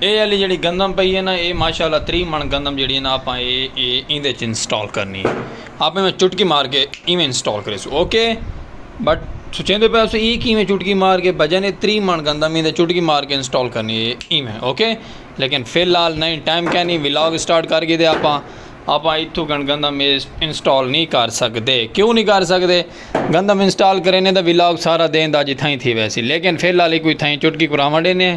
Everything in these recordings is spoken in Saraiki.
اے آلی جیڑی گندم پئی ہے نا اے ماشاء اللہ تری من گندم جیڑی ہے نا آپاں اے اے ایندے وچ انسٹال کرنی ہے آپاں میں چٹکی مار کے ایویں انسٹال کریسوں اوکے بٹ سوچیندے پئے ہسو ای کیویں چٹکی مار کے بھجا نے تری من گندم ایندے چٹکی مار کے انسٹال کرنی ہے ایویں اوکے لیکن فی الحال نہیں ٹائم کیا نہیں ولاگ اسٹارٹ کر کے دے آپاں آپاں اتھوں گن گندم انسٹال نہیں کر سکتے کیوں نہیں کر سکتے گندم انسٹال کرینے دا ولاگ سارا دین دا جتھائیں تھی ویسی لیکن فی الحال کوئی تھائیں چٹکی کراوݨ ڈینے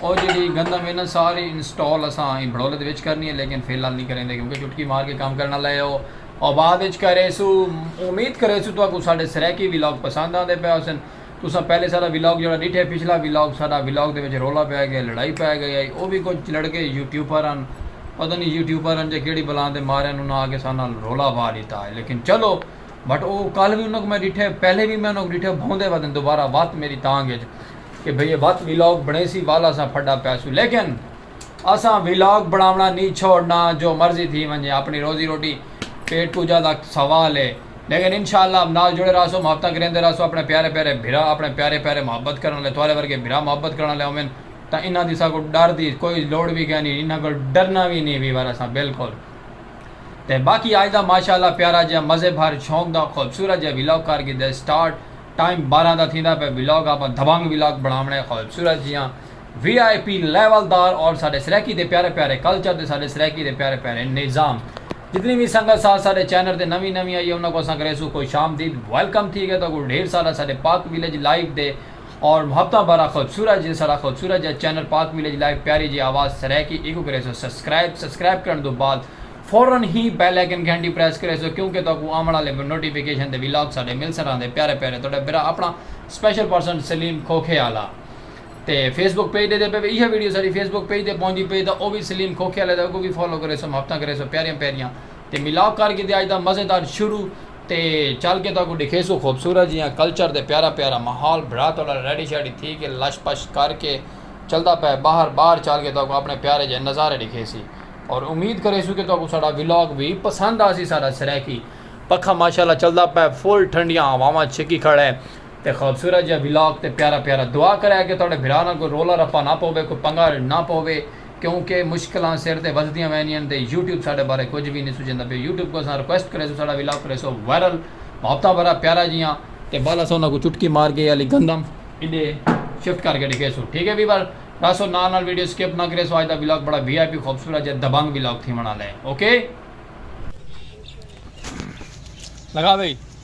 او جیڑھی گندم ہے نا ساری انسٹال اساں ایں بھڑولے دے وچ کرنی ہے لیکن فی الحال نہیں کریندے کیونکہ چٹکی مار کے کم کرن آلا ہے او او بعد وچ کریسو امید کریسو تہاکوں ساڈے سرائیکی ولاگ پسند آندے پئے ہوسن تساں پہلے ساڈا ولاگ جیڑھا ڈیٹھے پچھلا ولاگ ساڈا ولاگ دے وچ رولا پئے گئے لڑائی پئے گئی ہئی او وی کچھ لڑکے یوٹیوبر ہن پتہ نہیں یوٹیوبر ہن جے کیڑھی بلاں دے مارے انہاں آ کے ساڈے نال رولا پا ڈیتا ہے لیکن چلو بٹ او کل وی انہاں کوں میں ڈٹھے پہلے وی میں انہاں کوں ڈٹھے بھوندے ودن دوبارہ وت میری تانگ اچ کہ بھئی اے وت ولاگ بنڑیسی ول اساں پھڈا پیسوں لیکن اساں ولاگ بنڑاونڑاں نی چھوڑنا جو مرضی تھی ونجے اپنی روزی روٹی پیٹ پوجا دا سوال اے لیکن انشاء اللہ نال جڑے راہسوں محبتاں کریندے راہسوں اپنے پیارے پیارے بھرا اپنے پیارے پیارے محبت کرن والے تہاڈے ورگے بھرا محبت کرن والے ہوون تاں انہاں دی اساں کوں ڈر دی کوئی لوڑ وی کینی انہاں کول ڈرنا وی نی وی ور اساں بالکل تے باقی آج دا ماشاء اللہ پیارا جیہا مزے بھر شوق دا خوبصورت جیہا ولاگ کر گھدے سٹارٹ ٹائم بارہ دا تھیندا پئے ولاگ آپاں دبنگ ولاگ بناونے خوبصورت جیہاں وی آئی پی لیول دار اور ساڈے سرائیکی دے پیارے پیارے کلچر تے ساڈے سرائیکی دے پیارے پیارے نظام جتنی وی سنگت ساتھ ساڈے چینل تے نویں نویں آئی ہے انہاں کوں اساں کریسوں خوش آمدید ویلکم تھی گئے تہاکوں ڈھیر سارا ساڈے پاک ویلیج لائیو دے اور محبتاں بارا خوبصورت جے سارا خوبصورت جا چینل پاک ویلیج لائف پیاری جے آواز سرائیکی ایکوں کریسو سبسکرائب سبسکرائب کرن دو بعد فورا ہی بیل آئیکن گھنٹی پریس کریسو کیوں کہ تہاکوں آون آلے نوٹیفیکیشن تے ویلاگ ساڈے ملسن رہندے پیارے پیارے تہاڈا بھرا اپنا سپیشل پرسن سلیم کھوکھے آلا تے فیس بک پیج ڈیندے پئے ایہہ ویڈیو ساڈی فیس بک پیج تے پہنچدی پئی تاں او وی سلیم کھوکھے آلے دا اگوں وی فالو کریسو محبتاں کریسو پیاریاں پیاریاں تے ملاپ کر گھدے اج دا مزیدار شروع تے چل کے تہاکوں ڈکھیسوں خوبصورت جیہاں کلچر تے پیارا پیارا ماحول بھرا تہاڈا ریڈی شیڈی تھی کے لش پش کر کے چلدا پئے باہر باہر چل کے تہاکوں اپنے پیارے جیہے نظارے ڈکھیسی اور امید کریسوں کے تہاکوں ساڈا ولاگ وی پسند آسی ساڈا سرائیکی پکھا ماشاءاللہ چلدا پئے فل ٹھنڈیاں ہواواں چھکی کھڑے تے خوبصورت جیہا ولاگ تے پیارا پیارا دعا کرے کے تہاڈے بھرا نال کوئی رولا رپا نہ پوے کوئی پنگا نہ پوے کیوں کہ مشکلاں سر تے وزدیاں وینین تے یوٹیوب ساڈے بارے کجھ وی نی سوچیندا پیا یوٹیوب کوں اساں ریکویسٹ کریسوں ساڈا ولاگ کریسو وائرل محبتاں بھرا پیارا جیاں تے بل اساں انہاں کوں چٹکی مار کے اے آلی گندم ایڈے شفٹ کر کے ڈکھیسوں ٹھیک اے ویور رہسو نال نال ویڈیو سکپ نہ کریسو اج دا ولاگ بڑا وی آئی پی خوبصورت جے دبنگ ولاگ تھیون آلا اے اوکے۔ لگا بھئی۔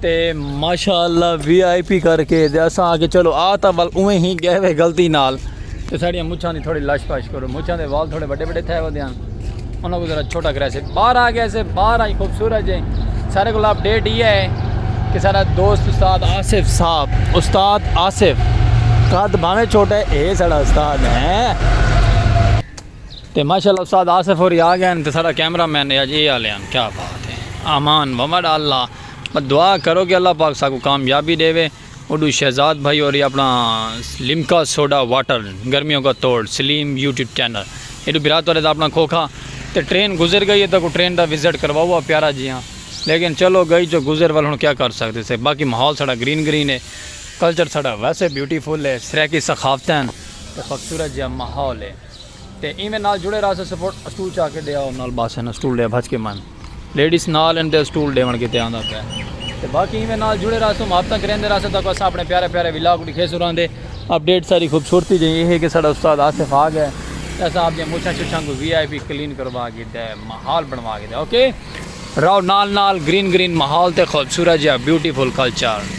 تے ماشاءاللہ وی آئی پی کر کے دے اساں آکے چلو آ تا ول اویں ہی گئے وے غلطی نال تے ساڑیاں مچھاں دی تھوڑی لاش پاش کرو مچھاں دے وال تھوڑے بڑے بڑے تھے ہو دیاں انہاں کو ذرا چھوٹا کرے سے باہر آ گئے سے باہر آئی خوبصورت جے سارے کو اپ ڈیٹ یہ ہے کہ سارا دوست استاد آصف صاحب استاد آصف قد بھاویں چھوٹے اے سارا استاد ہیں تے ماشاءاللہ استاد آصف ہوری آ گئے ہن تے ساڈا کیمرہ مین اے اج اے آلے ہن کیا بات اے امان ومڑ اللہ بس دعا کرو کہ اللہ پاک ساکوں کامیابی ڈیوے اوڈو شہزاد بھائی ہوری اپنا لمکا سوڈا واٹر گرمیوں کا توڑ سلیم یوٹیوب چینل ایڈو بھرا تہاڈے دا اپنا کھوکھا تے ٹرین گزر گئی اے تاکوں ٹرین دا وزٹ کرواؤ آ پیارا جیاں لیکن چلو گئی جو گزر ول ہن کیا کر سکدے سے باقی ماحول ساڈا گرین گرین اے کلچر ساڈا ویسے بیوٹی فل اے سرائیکی ثقافتیں ہن تے خوبصورت جیاں ماحول اے۔ تے ایویں نال جڑے رہسے سپورٹ اسٹول چا کے ڈیاؤ نال بس ہن اسٹول ڈے بھج کے من لیڈیز نال ہن تے اسٹول ڈیون کیتے آندا پے تے باقی ایویں نال جڑے رہسو محبتاں کریندے رہسو تاکو اساں اپنے پیارے پیارے ولاگ ڈکھے سو رہندے اپ ڈیٹ ساری خوبصورتی جے ایہ ہے کہ ساڈا استاد آصف آ گئے تے اساں اپ دی مچھاں شچھاں کو وی آئی پی کلین کروا کے تے ماحول بنوا کے تے اوکے راؤ نال نال گرین گرین ماحول تے خوبصورت جیا بیوٹیفل کلچر۔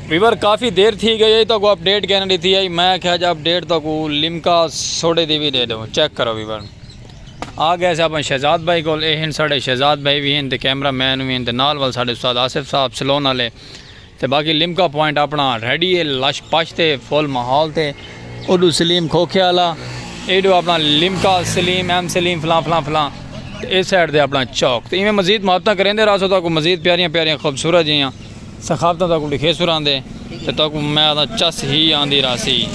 ویور کافی دیر تھی گئی ہے تو اپ ڈیٹ کہنا دیتی ہے میں کہا جا اپ ڈیٹ تو لمکا سوڑے دی بھی دے دو چیک کرو ویور آ گئے سے اپنے شہزاد بھائی کو اے ہن ساڑے شہزاد بھائی بھی ہن تے کیمرہ مین بھی ہن تے نال وال ساڑے استاد آصف صاحب سلون آلے تے باقی لمکا پوائنٹ اپنا ریڈی ہے لش پش تے فول محول تے اڈو سلیم کھوکھے آلا ایڈو اپنا لمکا سلیم ایم سلیم فلان فلان فلان تے اے سیڈ دے اپنا چوک تے ایمیں مزید محبتہ کریں دے راسو تو کو مزید پیاریاں پیاریاں خوبصورت جیاں سخاوتاں تہاکوں ݙکھیسوں رہندے تے تہاکوں میاہ دا چس ہی آندی رہسی۔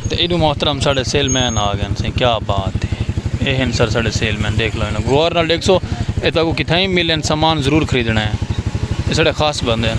تے ایݙوں محترم ساݙے سیل مین آ ڳئن سئیں کیا بات ہے۔ اے ہن سر ساݙے سیل مین ݙیکھ لو انہاں کوں غور نال ݙیکھسو اے تہاکوں کتھائیں وی ملن سامان ضرور خریدݨا ہے۔ اے ساݙے خاص بندے ہن۔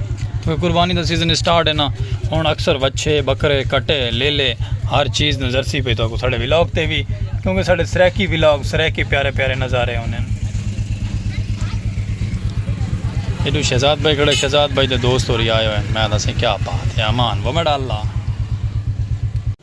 کیونکہ قربانی دا سیزن اسٹارٹ ہے نا ہن اکثر وچھے بکرے کٹے لیلے ہر چیز نظر سی پئی تہاکوں ساڈے ولاگ تے وی کیونکہ ساڈے سرائیکی ولاگ سرائیکی پیارے پیارے نظارے ہوندے ہیں ایڈو شہزاد بھائی کھڑے شہزاد بھائی دے دوست ہو رہی آئے ہوئے میں دسیں کیا بات ہے امان وہ میڈا اللہ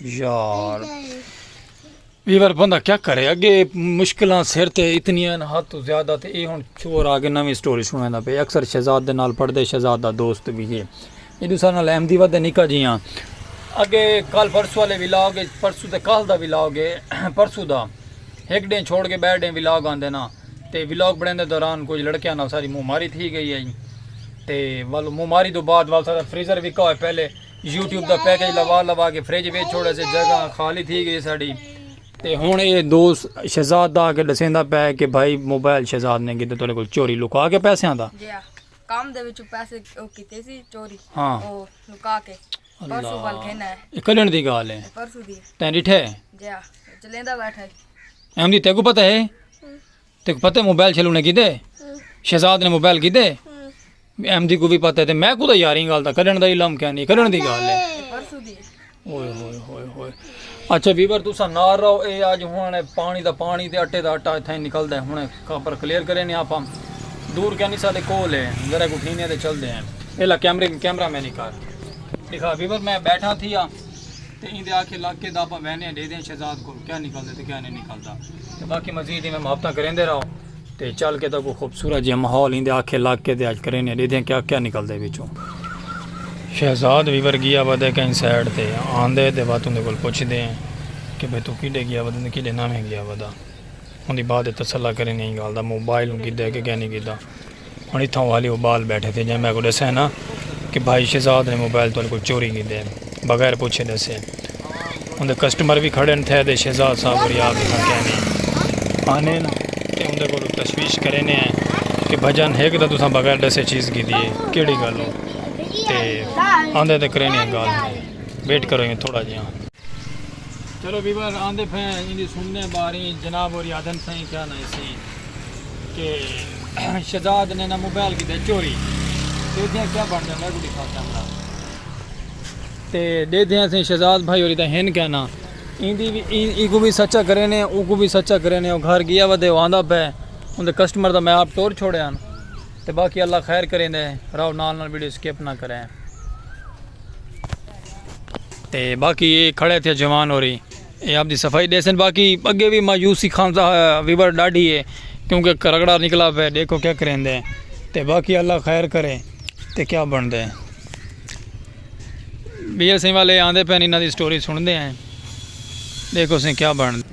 یار بیور بندہ کیا کرے اگے مشکلاں سر تے اتنیاں ہیں حد تو زیادہ تے اے ہن چور آگے نویں سٹوری سنویں دا پہ اکثر شہزاد دے نال پڑھ دے شہزاد دا دوست بھی ہے یہ دوسرا نال احمدی ود نکا جی ہاں اگے کل پرسو والے ولاگ ہے پرسو تے کل دا ولاگ ہے پرسو دا ایک ڈے چھوڑ کے بیر ڈے ولاگ آن دینا تے ولاگ بڑھیں دے دوران کچھ لڑکیاں نال ساری مو ماری تھی گئی ہے تے والو مو ماری دو بعد والو سارا فریزر وکا ہوئے پہلے یوٹیوب دا پیکج لوا لوا کے فریج ویچ چھوڑا سے جگہ خالی تھی گئی ساڑی تے ہن اے دوست شہزاد دا کے دسیندا پے کہ بھائی موبائل شہزاد نے کیتے تیرے کول چوری لکا کے پیسے آندا جی ہاں۔ کام دے وچ پیسے او کیتے سی چوری ہاں۔ او لکا کے پرسو ول گھن ہے اے کلن دی گال ہے پرسو دی تیں ڈٹھے جی ہاں چلیندا بیٹھا ہے ایم دی تیکو پتہ ہے تیکوں پتہ ہے موبائل چھلو نے کیتے شہزاد نے موبائل کیتے ایم دی کو بھی پتہ ہے تے میں کو دا یاری گال دا کڈن دا علم کیا نہیں کڈن دی گال ہے اوئے ہوئے ہوئے ہوئے اچھا ویور تسا نار رہو اے آج ہن پانی دا پانی تے اٹے دا اٹا تھیں نکل دا ہن کاپر کلیئر کرے نے آپ دور کیا نہیں سادے کول ہے ذرا کو ٹھینے تے چل دے ہیں الا کیمرے کیمرہ میں نہیں کر دکھا ویور میں بیٹھا تھی ہاں تے ایندے آکھے لگ کے داپاں وینیاں ڈے دیاں شہزاد کول کیا نکلدے تے کیا نئیں نکلدا تے باقی مزید ایویں محبتاں کریندے رہو تے چل کے تاکوں خوبصورت جیہاں ماحول ایندے آکھے لگ کے تے اج کرینیاں ڈے دیاں کیا کیا نکلدے وچوں شہزاد ویور گیا ودے کہیں سائیڈ تے آندے تے واتوں دے کول پچھدے کہ بھئی توں کیڈے گیا ودے تے کیڈے ناویں گیا ودا۔ اوندی ماء تے تسلا کرین ایں گالھ دا موبائل اوں گھدا ہے کہ کینی گھدا۔ ہن اتھاں او حالی ابال بیٹھے تھے جئیں میں کوں ڈسے نا کہ بھائی شہزاد نے موبائل تہاڈے کول چوری کیتے ہے۔ بغیر پچھے ڈسے۔ اوندے کسٹمر وی کھڑن تھے تے شہزاد صاحب اور یار اتھاں کینی آنین تے اوندے کولوں تشویش کرینے ہیں کہ بھجن ہک تاں تساں بغیر ڈسے چیز گھدی ہے کیڑی گالوں تے آندے تے کرینے ہیں گالھ دی ویٹ کرو ایویں تھوڑا جیاں۔ چلو ویور آندے پھیں ایندی سننے باری جناب ہوری آدھن سائیں کیا نہ اسی کہ شہزاد نے نہ موبائل کی دے چوری دے دیاں کیا بڑھ جاندہ ہے کوئی دکھا کیمرہ تے دے دیاں سائیں شہزاد بھائی ہوری دا ہن کیا نہ ایندی بھی ای کو بھی سچا کرے نے او کو بھی سچا کرے نے او گھر گیا ودے او آندہ پہ اندے کسٹمر دا میں آپ ٹور چھوڑے ہیں تے باقی اللہ خیر کریں دے راو نال نال ویڈیو سکیپ نہ کریں تے باقی اے کھڑے تھے جوان ہوری اے اپنی صفائی ڈیسن باقی اگے وی مایوسی خان دا ویور ڈاڈھی اے کیونکہ کرگڑا نکلا پے دیکھو کیا کریندے تے باقی اللہ خیر کرے تے کیا بندے بی ایس سی والے آندے پے انہاں دی سٹوری سن دے ہیں دیکھو سن کیا بندے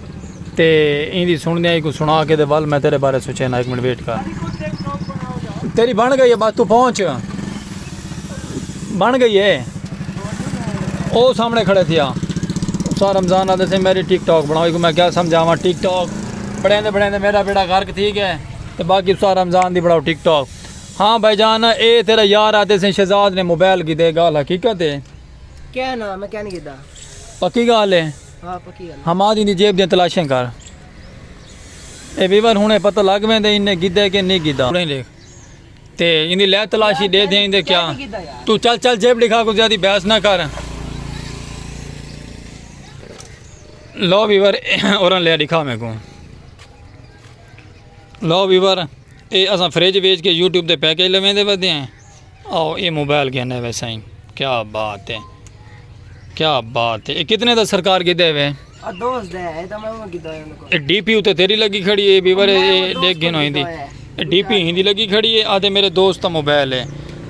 تے ایندی سنڑدیاں ای کوں سنڑا کے دے ول میں تیڈے بارے سوچینا ہک منٹ ویٹ کر۔ تیڈی بنڑ گئی ہے بس توں پہنچ۔ بنڑ گئی ہے۔ او سامنے کھڑے تھیا۔ اساں رمضان آدھے سے میری ٹک ٹاک بنڑاؤ ایکوں میں کیا سمجھاواں ٹک ٹاک بنڑیندے بنڑیندے میڈا بیڑا غرق تھی گئے تے باقی اساں رمضان دی بنڑاؤ ٹک ٹاک۔ ہاں بھائی جان اے تیڈا یار آدھے سے شہزاد نے موبائل گھدے گال حقیقت ہے۔ کہنا میں کہنی گھدا۔ پکی گال ہے۔ حماد ایندی جیب دیاں تلاشیں کر اے ویور ہنڑے پتہ لگ ویندے ایں نے گھدا کہ نی گھدا تے ایندی لے تلاشی ڈے دھیاں ایندے کیا تو چل چل جیب ڈکھا کو زیادی بحث نہ کر لو ویور اورن لے ڈکھا میں کو لو ویور اے اساں فریج ویج کے یوٹیوب تے پیکج لویں دے ودے ہیں او اے موبائل گھنے وے سائیں کیا بات ہے کیا بات ہے اے کتنے دا سرکار گھے دے وے اے ڈی پی اتے تیری لگی کھڑی ہے بیور اے ڈیکھ گھن ہوئی دی اے ڈی پی ہندی لگی کھڑی ہے آدھے میرے دوست تا موبائل ہے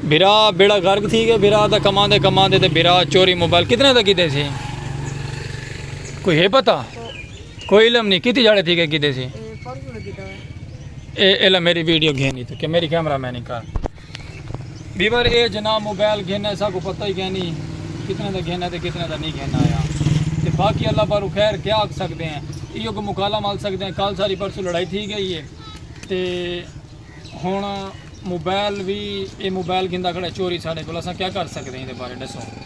بھرا بیڑا گرگ تھی گئے بھرا دا کمان دے کمان دے تے بھرا چوری موبائل کتنے دا گھے دے سی کوئی ہے پتا کوئی علم نہیں کتی جاڑے تھی گئے گھے دے سی اے علم میری ویڈیو گھے نہیں تو کہ میری کیمرہ میں نہیں کار بیور اے جناب موبائل گھن آئے ساکو پتہ ہی کینی کتنے دا گھن آئے تے کتنے دا نہیں گھن آیا تے باقی اللہ بارو خیر کیا آکھ سکتے ہیں ایو کو مقالہ مال سکتے ہیں کال ساری پرسو لڑائی تھی گئی ہے تے ہون موبائل بھی اے موبائل گھن دا کھڑا چوری ساڑے کو لسا کیا کر سکتے ہیں دے بارے ڈسو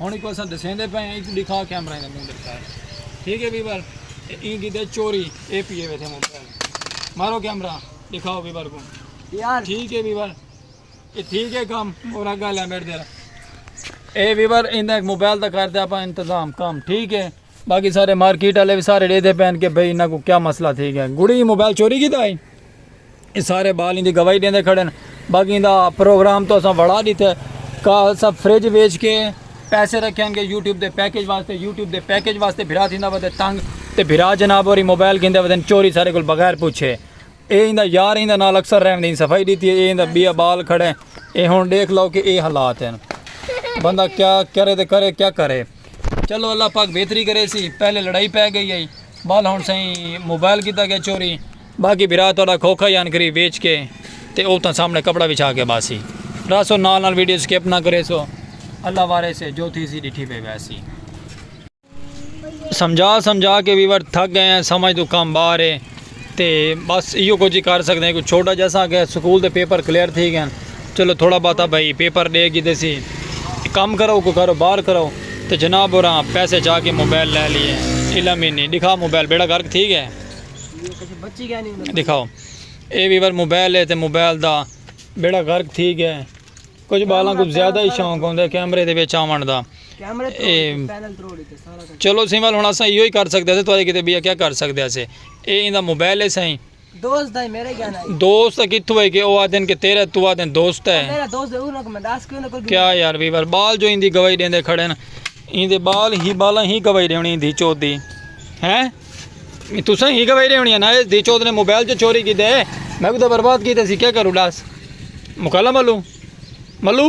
ہن ایکوں اساں دسیندے پئے ہیں ایکوں ڈکھا کیمرہ دے منہ دکھا ٹھیک ہے ویور این کیتے چوری اے پی اے ویتھے موبائل مارو کیمرہ دکھاؤ ویور کو یار ٹھیک ہے ویور اے ٹھیک ہے کام اور اگا لے میڈ دے اے ویور ایندا ایک موبائل دا کر دے اپا انتظام کام ٹھیک ہے باقی سارے مارکیٹ والے بھی سارے ڈے دے پین کہ بھئی انہاں کو کیا مسئلہ تھی گیا گڑی موبائل چوری کیتا ہے اے سارے بال ایندی گواہی ڈیندے کھڑن باقی ایندا پروگرام تو اساں وڑا ڈیتے کا اساں فریج ویچ کے پیسے رکھیاں گے یوٹیوب دے پیکج واسطے یوٹیوب دے پیکج واسطے بھرا تھیندا ودے تنگ تے بھرا جناب ہوری موبائل گھندے ودن چوری سارے کول بغیر پوچھے اے ایندا یار ایندا نال اکثر رہندے ایں صفائی ڈیتی اے ایندا بیا بال کھڑے اے ہن ڈیکھ لو کہ اے حالات ہیں بندہ کیا کرے تے کرے کیا کرے چلو اللہ پاک بہتری کرے سی پہلے لڑائی پہ گئی ہے بال ہن سائیں موبائل کیتا گیا چوری باقی بھرا تہاڈا کھوکھا یان گری ویچ کے تے اوتاں سامنے کپڑا وچھا کے باسی رہسو نال نال ویڈیو سکپ نہ کریسو اللہ وارث ہے جو تھیسی ڈٹھی پئے ویسی۔ سمجھا سمجھا کے ویور تھک گئے ہیں سمجھ توں کم باہر ہے تے بس ایہو کجھ ہی کر سکدے کوئی چھوٹا جا سا کہ سکول دے پیپر کلیئر تھی گئے چلو تھوڑا باتا بھائی پیپر ڈے گی دیسی کم کرو کوئی کرو باہر کرو تے جناب اوراں پیسے چا کے موبائل لے لیے علم ہی نہیں ڈکھا موبائل بیڑا گرک تھی گئے۔ دکھاؤ اے ویور موبائل ہے تے موبائل دا بیڑا غرق تھی گیا ہے کچھ بالاں کو زیادہ ہی شوق ہوندے ہے کیمرے دے وچ آون دا چلو سی وال ہن اساں ایو ہی کر سکدے سے تو کتے بیا کیا کر سکدے سے اے ایندا موبائل ہے سائیں دوست ہے میرے گیا نہیں دوست کتھو ہے کہ او آدن کہ تیرے تو آدن دوست ہے میرا دوست ہے انہاں کو میں داس کیوں نہ کر کیا یار ویور بال جو ایندی گواہی دیندے کھڑے ہیں ایندے بال ہی بالاں ہی گواہی دیونی دی چودی ہیں تساں ہی گواہی رہنی ہے نا دی چود نے موبائل جو چوری کی دے میں کو تو برباد کی تے سی کیا کروں لاس مکالا ملو ملو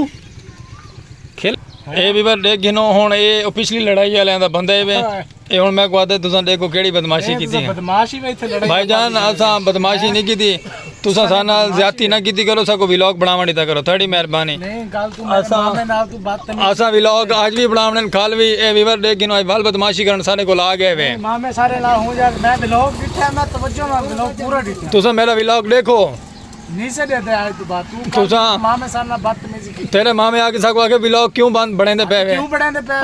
کھل اے بھی بار دیکھ گھنو ہون اے او پچھلی لڑائی والے دا بندہ ہے اے ہن میں کو آدھے تساں دیکھو کیڑی بدماشی کیتی ہے بدماشی میں تھے لڑائی بھائی جان اساں بدماشی نہیں کیتی تساں ساڈے نال زیادتی نہ کیتی کرو ساکوں ویلاگ بنڑاونڑ ڈتا کرو تھاڈی مہربانی اساں ویلاگ اج وی بنڑاونڑن کھل وی اے ویور ڈیکھ گھنو اج ول بدمعاشی کرنڑ ساڈے کول آ گئے وے تساں میڈا ویلاگ ڈیکھو تساں تیڈے مامے آ کے ساکوں آکھے ویلاگ کیوں بند بنڑیندے پئے وے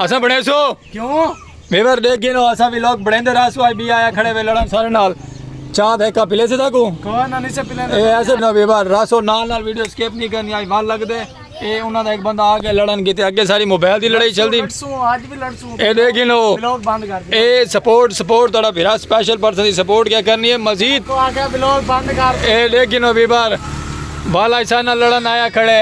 اساں بنڑیسوں کیوں ویور دیکھ گئے نو اسا ویلوگ بڑھیندے رہا سو آئی بی آیا کھڑے وے لڑن سارے نال چاہ بھے کا پلے سے تھا کو کون نہ نیچے پلے اے ایسے نو ویور راسو نال نال ویڈیو سکیپ نہیں کرنی آئی وال لگ دے اے انہاں دا ایک بندہ آ گیا لڑن گیتے اگے ساری موبائل دی لڑائی چل دی اے دیکھ گئے نو اے سپورٹ سپورٹ تڑا بھیرا سپیشل پرسن دی سپورٹ کیا کرنی ہے مزید اے دیکھ گئے نو ویور والا ایسا نہ لڑن آیا کھڑے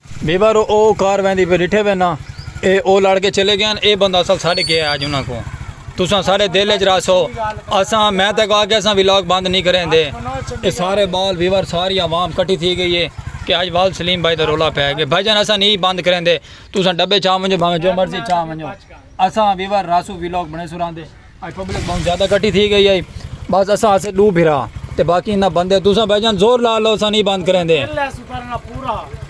بیبا رو او کار ویندی پئی ڈٹھے وے ناں اے او لڑ کے چلے گئین اے بندہ اصل ساڈے گئے اج انہاں کوں تساں ساڈے دل اچ رہسو اساں میں تیکوں آکھیا اساں ولاگ بند نی کریندے اے سارے بال ویور ساری عوام کٹھی تھی گئی اے کہ اج ول سلیم بھائی دا رولا پے گئے بھائی جان اساں نی بند کریندے تساں ڈبے چا ونجو بھاویں جو مرضی چا ونجو اساں ویور رہسو ولاگ بنڑیسو راندے۔ اج پبلک بہوں زیادہ کٹی تھی گئی ہے بس اساں ہاسے دو بھرا تے باقی انہاں بندے تساں بھائی جان زور لا لو اساں نہیں بند کریں دے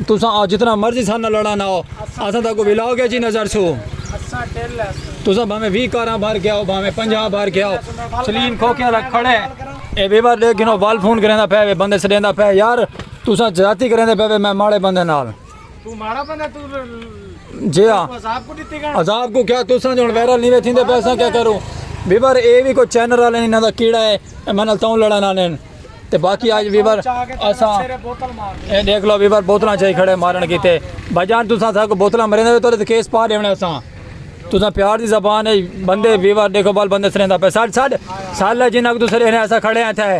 تساں آ جتنا مرضی سانا لڑا نہ ہو اساں تاں کو ولاگ ہے جی نظر سو تساں بھامے وی کاراں بھر کے آؤ بھامے پنجا بھر کے آؤ سلیم کھوکے والا کھڑے اے بے بار دیکھ گنو وال فون کریں دا پہ بندے سلیم دا پہ یار تساں جاتی کریں دے پہ میں ماڑے بندے نال جی ہاں عذاب کو کیا تو سن جون ویرل نہیں ویتھیں دے پیسہ کیا کروں ویور اے بھی کوئی چینر والے نہیں نہ کیڑا ہے میں نال تاؤں لڑا نہ لین تے باقی آج ویور اسا اے دیکھ لو ویور بوتلاں چاہی کھڑے مارن کیتے بھائی جان تساں تھا کو بوتلاں مرے دے تو کیس پا دیونے اسا تساں پیار دی زبان ہے بندے ویور دیکھو بال بندے سرین دا پہ ساڑھ ساڑھ ساڑھ لے جن اگر تو سرین ایسا کھڑے ہیں تھے